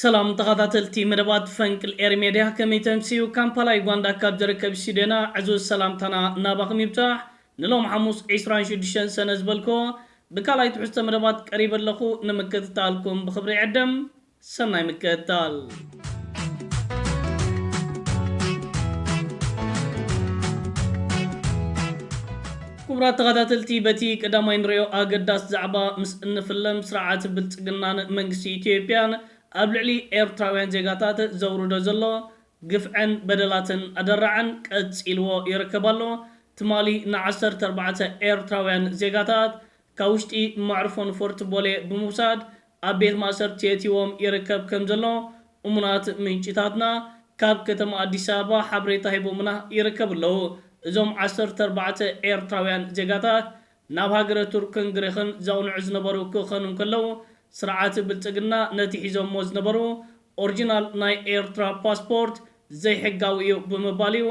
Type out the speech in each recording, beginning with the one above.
ሰላም ተኻታተልቲ መደባት ፈንቅል ኤሪ ሜድያ ከመይ ተምስዩ ካምፓላ ዩጋንዳ ካብ ዝርከብ ስቱድዮና ዕዙዝ ሰላምታና ናባኹም ይብጻሕ ንሎም ሓሙስ ዕስራን ሽዱሽተን ሰነ ዝበልክዎ ብካልኣይ ትሕዝቶ መደባት ቀሪበ ኣለኹ ንምክትታልኩም ብኽብሪ ይዕድም ሰናይ ምክትታል። ክቡራት ተኸታተልቲ በቲ ቀዳማይ ንሪኦ ኣገዳሲ ዛዕባ ምስ እንፍለም ስርዓት ብልፅግናን መንግስቲ ኢትዮጵያን ኣብ ልዕሊ ኤርትራውያን ዜጋታት ዘውርዶ ዘሎ ግፍዕን በደላትን ኣደራዕን ቀፂልዎ ይርከብ ኣሎ ትማሊ ን ዓሰርተ ኣርባዕተ ኤርትራውያን ዜጋታት ካብ ውሽጢ መዕርፎ ንፎርት ቦሌ ብምውሳድ ኣብ ቤት ማእሰርቲ የእቲዎም ይርከብ ከምዘሎ እሙናት ምንጭታትና ካብ ከተማ ኣዲስ ኣበባ ሓበሬታ ሂቦምና ይርከቡ ኣለው። እዞም ዓሰርተ ኣርባዕተ ኤርትራውያን ዜጋታት ናብ ሃገረ ቱርክን ግሪኽን ዘቕንዑ ዝነበሩ ክኸኑ እንከለው ስርዓት ብልጽግና ነቲ ሒዞሞ ዝነበሩ ኦርጂናል ናይ ኤርትራ ፓስፖርት ዘይሕጋዊ እዩ ብምባል እዩ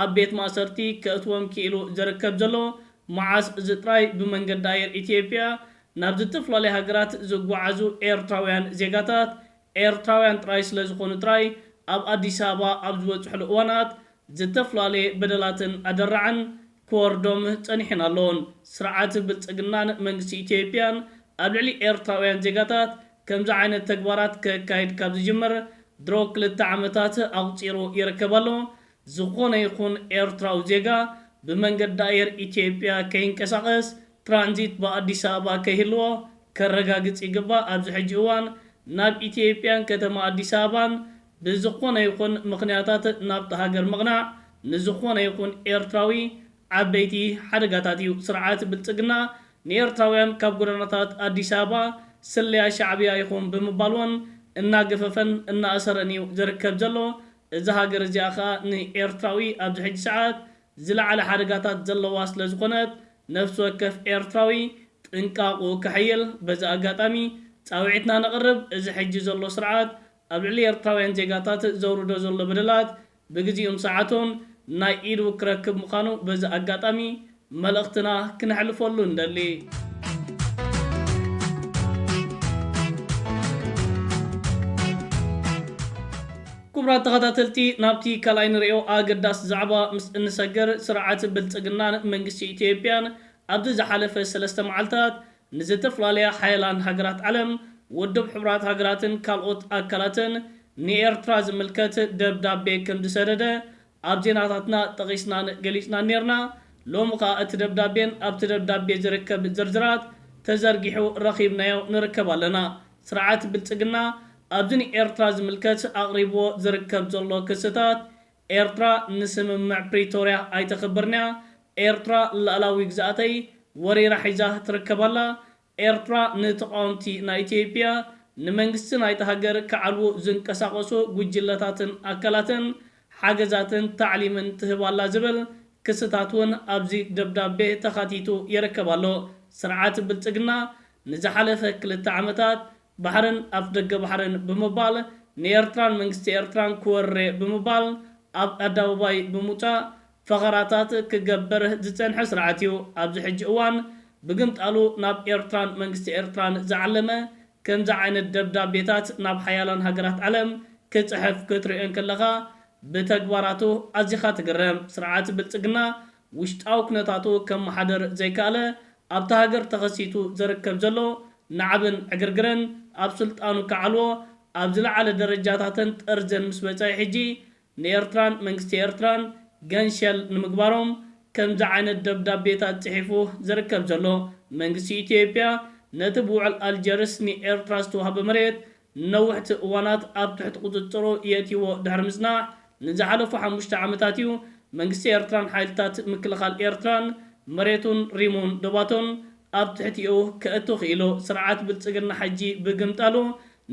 ኣብ ቤት ማእሰርቲ ከእትዎም ክኢሉ ዝርከብ ዘሎ። መዓስ እዚ ጥራይ ብመንገዲ ኣየር ኢትዮጵያ ናብ ዝተፍላለያ ሃገራት ዝጓዓዙ ኤርትራውያን ዜጋታት ኤርትራውያን ጥራይ ስለዝኾኑ ጥራይ ኣብ ኣዲስ ኣበባ ኣብ ዝበጽሑሉ እዋናት ዝተፍላለየ በደላትን ኣደራዕን ክወርዶም ጸኒሑን ኣሎን። ስርዓት ብልጽግናን መንግስቲ ኢትዮጵያን ኣብ ልዕሊ ኤርትራውያን ዜጋታት ከምዚ ዓይነት ተግባራት ከካይድ ካብ ዝጅምር ድሮ ክልተ ዓመታት ኣቑጺሩ ይርከብ ኣሎ። ዝኾነ ይኹን ኤርትራዊ ዜጋ ብመንገዲ ኣየር ኢትዮጵያ ከይንቀሳቐስ፣ ትራንዚት ብኣዲስ ኣበባ ከይህልዎ ከረጋግጽ ይግባእ፣ ኣብዚ ሕጂ እዋን ናብ ኢትዮጵያን ከተማ ኣዲስ ኣበባን ብዝኾነ ይኹን ምኽንያታት ናብታ ሃገር ምቕናዕ ንዝኾነ ይኹን ኤርትራዊ ዓበይቲ ሓደጋታት እዩ፣ ስርዓት ብልጽግና ንኤርትራውያን ካብ ጎደናታት ኣዲስ ኣበባ ስለያ ሻዕብያ ኢኹም ብምባል ውን እናገፈፈን እናኣሰረን እዩ ዝርከብ ዘሎ፣ እዛ ሃገር እዚኣ ከኣ ንኤርትራዊ ኣብዚ ሕጂ ሰዓት ዝለዓለ ሓደጋታት ዘለዋ ስለ ዝኾነት ነፍሲ ወከፍ ኤርትራዊ ጥንቃቕኡ ከሕይል በዚ ኣጋጣሚ ጻውዒትና ነቕርብ እዚ ሕጂ ዘሎ ስርዓት ኣብ ልዕሊ ኤርትራውያን ዜጋታት ዘውርዶ ዘሎ በደላት ብግዚኡን ሰዓቱን ናይ ኢዱ ክረክብ ምዃኑ በዚ ኣጋጣሚ መልእኽትና ክነሕልፈሉ እንደሊ። ኩቡራት ተኸታተልቲ ናብቲ ካልኣይ ንርእዮ ኣገዳሲ ዛዕባ ምስ እንሰግር ስርዓት ብልጽግናን መንግስቲ ኢትዮጵያን ኣብዚ ዝሓለፈ ሰለስተ መዓልታት ንዝተፍላለያ ሓያላን ሃገራት ዓለም ውድብ ሕቡራት ሃገራትን ካልኦት ኣካላትን ንኤርትራ ዝምልከት ደብዳቤ ከምዝሰደደ ኣብ ዜናታትና ጠቒስናን ገሊጽናን ኔርና፣ ሎሚ ከኣ እቲ ደብዳቤን ኣብቲ ደብዳቤ ዝርከብ ዝርዝራት ተዘርጊሑ ረኺብናዮ ንርከብ ኣለና። ስርዓት ብልጽግና ኣብዚ ንኤርትራ ዝምልከት ኣቕሪብዎ ዝርከብ ዘሎ ክስታት፣ ኤርትራ ንስምምዕ ፕሪቶርያ ኣይተኽብርን'ያ፣ ኤርትራ ልኣላዊ ግዝኣተይ ወሪራ ሒዛ ትርከብ ኣላ፣ ኤርትራ ንተቓወምቲ ናይ ኢትዮጵያ፣ ንመንግስቲ ናይታ ሃገር ክዓልዉ ዝንቀሳቐሱ ጉጅለታትን ኣካላትን ሓገዛትን ታዕሊምን ትህብ ኣላ ዝብል ክስታት እውን ኣብዚ ደብዳቤ ተኻቲቱ ይርከብ ኣሎ። ስርዓት ብልጽግና ንዝሓለፈ ክልተ ዓመታት ባሕርን ኣፍደገ ባሕርን ብምባል ንኤርትራን መንግስቲ ኤርትራን ክወርር'የ ብምባል ኣብ ኣዳውባይ ብምውጻእ ፈኸራታት ክገበር ዝጸንሐ ስርዓት'ዩ። ኣብዚ ሕጂ እዋን ብግምጣሉ ናብ ኤርትራን መንግስቲ ኤርትራን ዝዓለመ ከምዚ ዓይነት ደብዳቤታት ናብ ሓያላን ሃገራት ዓለም ክጽሕፍ ክትርእዮ እንክለኻ ብተግባራቱ ኣዚኻ ትግረም። ስርዓት ብልጽግና ውሽጣዊ ኩነታቱ ከመሓድር ዘይከኣለ፣ ኣብታ ሃገር ተኸሲቱ ዘርከብ ዘሎ ናዕብን ዕግርግርን ኣብ ስልጣኑ ከዓልዎ ኣብ ዝለዓለ ደረጃታትን ጠርዝን ምስ በጸሔ ሕጂ ንኤርትራን መንግስቲ ኤርትራን ገንሸል ንምግባሮም ከምዚ ዓይነት ደብዳቤታት ጽሒፉ ዝርከብ ዘሎ መንግስቲ ኢትዮጵያ ነቲ ብውዕል ኣልጀርስ ንኤርትራ ዝተዋህበ መሬት ንነውሕቲ እዋናት ኣብ ትሕቲ ቁጽጽሩ የእትይዎ ድሕሪ ምጽናሕ ንዝሓለፉ ሓሙሽተ ዓመታት እዩ መንግስቲ ኤርትራን ሓይልታት ምክልኻል ኤርትራን መሬቱን ሪሙን ዶባቱን ኣብ ትሕቲኡ ከእቱ ክኢሉ። ስርዓት ብልጽግና ሕጂ ብግምጣሉ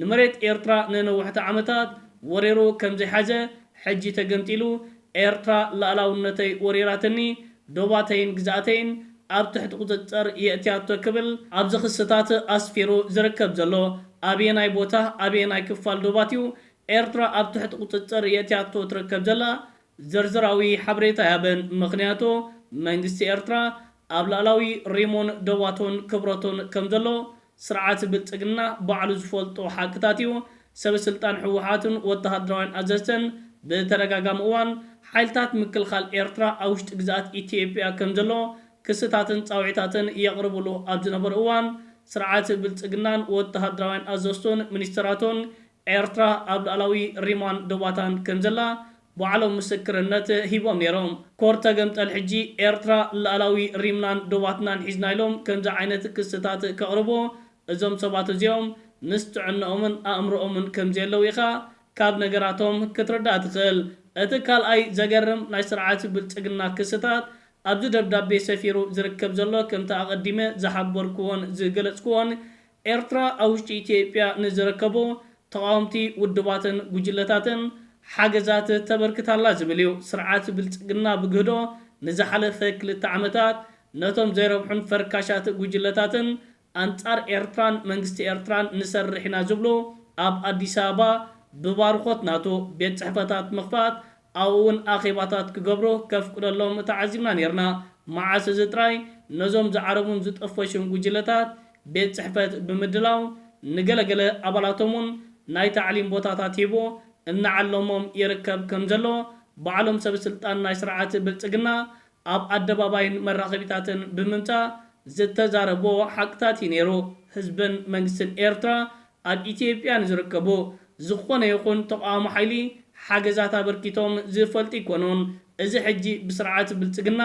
ንመሬት ኤርትራ ንነውሕቲ ዓመታት ወሪሩ ከምዘይሓዘ ሕጂ ተገምጢሉ ኤርትራ ልኣላውነተይ ወሪራትኒ ዶባተይን ግዝኣተይን ኣብ ትሕቲ ቁፅፅር የእትያቶ ክብል ኣብዚ ክስታት ኣስፊሩ ዝርከብ ዘሎ ኣበየናይ ቦታ ኣበየናይ ክፋል ዶባት እዩ ኤርትራ ኣብ ትሕቲ ቁፅፅር የእትያቶ ትርከብ ዘላ ዝርዝራዊ ሓበሬታ ኣያበን ምኽንያቱ መንግስቲ ኤርትራ ኣብ ላእላዊ ሪሙን ዶባቱን ክብረቱን ከምዘሎ ስርዓት ብልፅግና ባዕሉ ዝፈልጦ ሓቅታት እዩ። ሰበ ስልጣን ህወሓትን ወተሃደራውያን ኣዘዝትን ብተደጋጋሚ እዋን ሓይልታት ምክልኻል ኤርትራ ኣብ ውሽጢ ግዝኣት ኢትዮጵያ ከምዘሎ ክስታትን ፃውዒታትን የቕርብሉ ኣብ ዝነበሩ እዋን ስርዓት ብልፅግናን ወተሃደራውያን ኣዘዝቱን ሚኒስተራቱን ኤርትራ ኣብ ሉኣላዊ ሪሟን ዶባታን ከምዘላ ባዕሎም ምስክርነት ሂቦም ኔሮም። ኮር ተገምጠል ሕጂ ኤርትራ ላእላዊ ሪምናን ዶባትናን ሒዝና ኢሎም ከምዚ ዓይነት ክስታት ከቕርቡ እዞም ሰባት እዚኦም ምስ ጥዕንኦምን ኣእምርኦምን ከምዘየለው ኢኻ ካብ ነገራቶም ክትርዳእ ትኽእል። እቲ ካልኣይ ዘገርም ናይ ስርዓት ብልጽግና ክስታት ኣብዚ ደብዳቤ ሰፊሩ ዝርከብ ዘሎ ከምቲ ኣቐዲመ ዝሓበርክዎን ዝገለጽክዎን ኤርትራ ኣብ ውሽጢ ኢትዮጵያ ንዝርከቡ ተቓወምቲ ውድባትን ጉጅለታትን ሓገዛት ተበርክት ኣላ ዝብል እዩ። ስርዓት ብልጽግና ብግህዶ ንዝሓለፈ ክልተ ዓመታት ነቶም ዘይረብሑን ፈርካሻት ጉጅለታትን ኣንጻር ኤርትራን መንግስቲ ኤርትራን ንሰርሕ ኢና ዝብሉ ኣብ ኣዲስ ኣበባ ብባርኾት ናቱ ቤት ጽሕፈታት ምኽፋት ኣብኡ እውን ኣኼባታት ክገብሩ ከፍቅደሎም ተዓዚብና ነይርና። መዓስ እዚ ጥራይ፣ ነዞም ዝዓረቡን ዝጠፈሹን ጕጅለታት ቤት ጽሕፈት ብምድላው፣ ንገለ ገለ ኣባላቶም እውን ናይ ታዕሊም ቦታታት ሂቡ እናዓለሞም ይርከብ ከም ዘሎ ባዕሎም ሰበስልጣን ናይ ስርዓት ብልጽግና ኣብ ኣደባባይን መራኸቢታትን ብምምጻእ ዝተዛረቦ ሓቅታት እዩ ነይሩ። ህዝብን መንግስትን ኤርትራ ኣብ ኢትዮጵያ ንዝርከቡ ዝኾነ ይኹን ተቓዋሚ ሓይሊ ሓገዛት ኣበርኪቶም ዝፈልጡ ኣይኮኑን። እዚ ሕጂ ብስርዓት ብልጽግና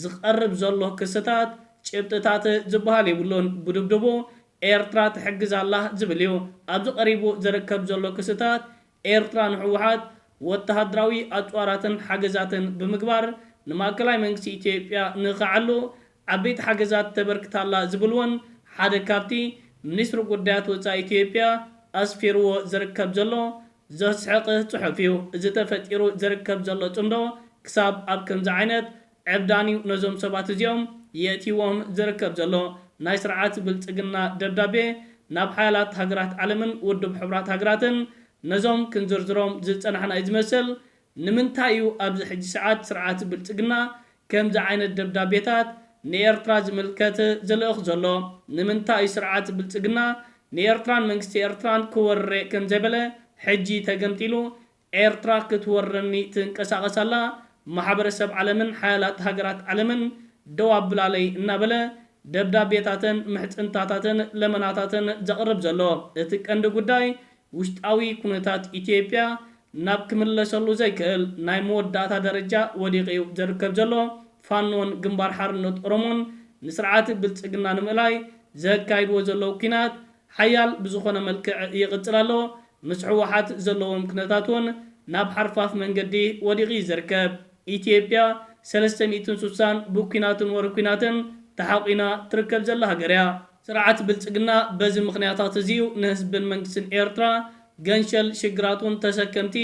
ዝቐርብ ዘሎ ክስታት ጭብጥታት ዝበሃል የብሉን። ብድብድቡ ኤርትራ ትሕግዝ ኣላ ዝብል እዩ። ኣብዚ ቀሪቡ ዝርከብ ዘሎ ክስታት ኤርትራ ንህወሓት ወተሃደራዊ ኣጽዋራትን ሓገዛትን ብምግባር ንማእከላይ መንግስቲ ኢትዮጵያ ንኸዕሉ ዓበይቲ ሓገዛት ተበርክት ኣላ ዝብል'ውን ሓደ ካብቲ ሚኒስትሪ ጉዳያት ወጻኢ ኢትዮጵያ ኣስፊርዎ ዝርከብ ዘሎ ዘስሕቕህ ጽሑፍ'ዩ። እዚ ተፈጢሩ ዝርከብ ዘሎ ጽምዶ ክሳብ ኣብ ከምዚ ዓይነት ዕብዳን'ዩ ነዞም ሰባት እዚኦም የእትይዎም ዝርከብ ዘሎ። ናይ ስርዓት ብልጽግና ደብዳቤ ናብ ሓያላት ሃገራት ዓለምን ውድብ ሕቡራት ሃገራትን ነዞም ክንዝርዝሮም ዝጸናሕና'ዩ ዝመስል። ንምንታይ'ዩ ኣብዚ ሕጂ ሰዓት ስርዓት ብልጽግና ከምዚ ዓይነት ደብዳቤታት ንኤርትራ ዝምልከት ዝልእኽ ዘሎ? ንምንታይ'ዩ ስርዓት ብልጽግና ንኤርትራን መንግስቲ ኤርትራን ክወርር'የ ከምዘይበለ ሕጂ ተገምጢሉ ኤርትራ ክትወረኒ ትንቀሳቐስ ኣላ፣ ማሕበረሰብ ዓለምን ሓያላት ሃገራት ዓለምን ደው ኣብላለይ እናበለ ደብዳቤታተን፣ ምሕጽንታታተን፣ ለመናታተን ዘቕርብ ዘሎ፣ እቲ ቀንዲ ጉዳይ ውሽጣዊ ኩነታት ኢትዮጵያ ናብ ክምለሰሉ ዘይክእል ናይ መወዳእታ ደረጃ ወዲቑ'ዩ ዝርከብ ዘሎ፣ ፋኖን ግንባር ሓርነት ኦሮሞን ንስርዓት ብልጽግና ንምእላይ ዘካይድዎ ዘለዉ ኲናት ሓያል ብዝኾነ መልክዕ ይቕጽል ኣሎ። ምስ ህወሓት ዘለዎም ኩነታት ውን ናብ ሓርፋፍ መንገዲ ወዲቑ ዩ ዝርከብ። ኢትዮጵያ ሰለስተ ሚእትን ሱሳን ብኩናትን ወረ ኩናትን ተሓቑና ትርከብ ዘላ ሃገር እያ። ስርዓት ብልጽግና በዚ ምኽንያታት እዚ ዩ ንህዝብን መንግስትን ኤርትራ ገንሸል ሽግራቱን ተሰከምቲ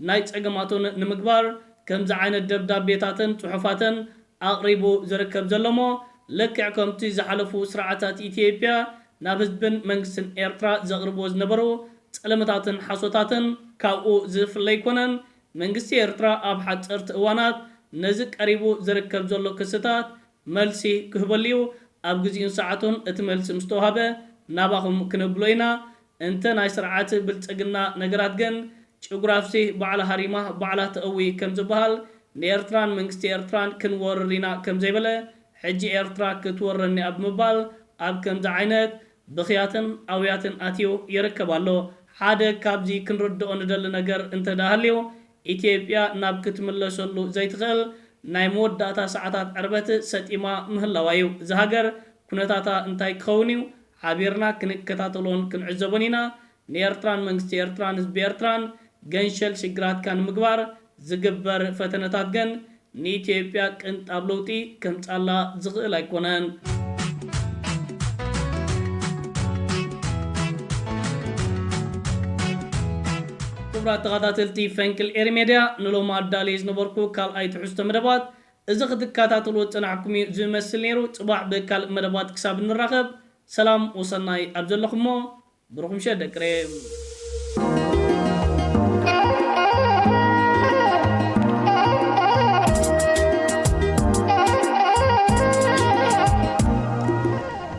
ናይ ጸገማቱን ንምግባር ከምዚ ዓይነት ደብዳቤታትን ጽሑፋትን ኣቕሪቡ ዝርከብ ዘሎ'ሞ ልክዕ ከምቲ ዝሓለፉ ስርዓታት ኢትዮጵያ ናብ ህዝብን መንግስትን ኤርትራ ዘቕርብዎ ዝነበሩ ጸለመታትን ሓሶታትን ካብኡ ዝፍለ ኣይኮነን። መንግስቲ ኤርትራ ኣብ ሓጸርቲ እዋናት ነዚ ቀሪቡ ዝርከብ ዘሎ ክስታት መልሲ ክህበሉ'ዩ። ኣብ ግዚኡን ሰዓቱን እቲ መልሲ ምስ ተዋህበ ናባኹም ክነብሎ ኢና። እንተ ናይ ስርዓት ብልጽግና ነገራት ግን ጭጉራፍሲ ባዕላ ሃሪማ ባዕላ ተእዊ ከም ዝበሃል፣ ንኤርትራን መንግስቲ ኤርትራን ክንወርር ኢና ከም ዘይበለ፣ ሕጂ ኤርትራ ክትወረኒ'ያ ብምባል ኣብ ከምዚ ዓይነት ብኽያትን ኣውያትን ኣትዩ ይርከብ ኣሎ። ሓደ ካብዚ ክንርድኦ ንደሊ ነገር እንተ ድኣ ሃልዩ፣ ኢትዮጵያ ናብ ክትምለሰሉ ዘይትኽእል ናይ መወዳእታ ሰዓታት ዕርበት ሰጢማ ምህላዋ'ዩ። እዛ ሃገር ኩነታታ እንታይ ክኸውን እዩ ሓቢርና ክንከታተሎን ክንዕዘቦን ኢና። ንኤርትራን መንግስቲ ኤርትራን ህዝቢ ኤርትራን ገንሸል ሽግራትካ ንምግባር ዝግበር ፈተነታት ግን ንኢትዮጵያ ቅንጣብ ለውጢ ከምጻላ ዝኽእል ኣይኮነን። ክቡራት ተኻታተልቲ ፈንቅል ኤሪ ሜድያ ንሎሚ ኣዳልየ ዝነበርኩ ካልኣይ ትሕዝቶ መደባት እዚ ክትካታተልዎ ዝጸናሕኩም እዩ ዝመስል ነይሩ ጽባሕ ብካልእ መደባት ክሳብ ንራኸብ ሰላም ወሰናይ ኣብ ዘለኹሞ ብሩኽ ምሸት ደቂ ሬም።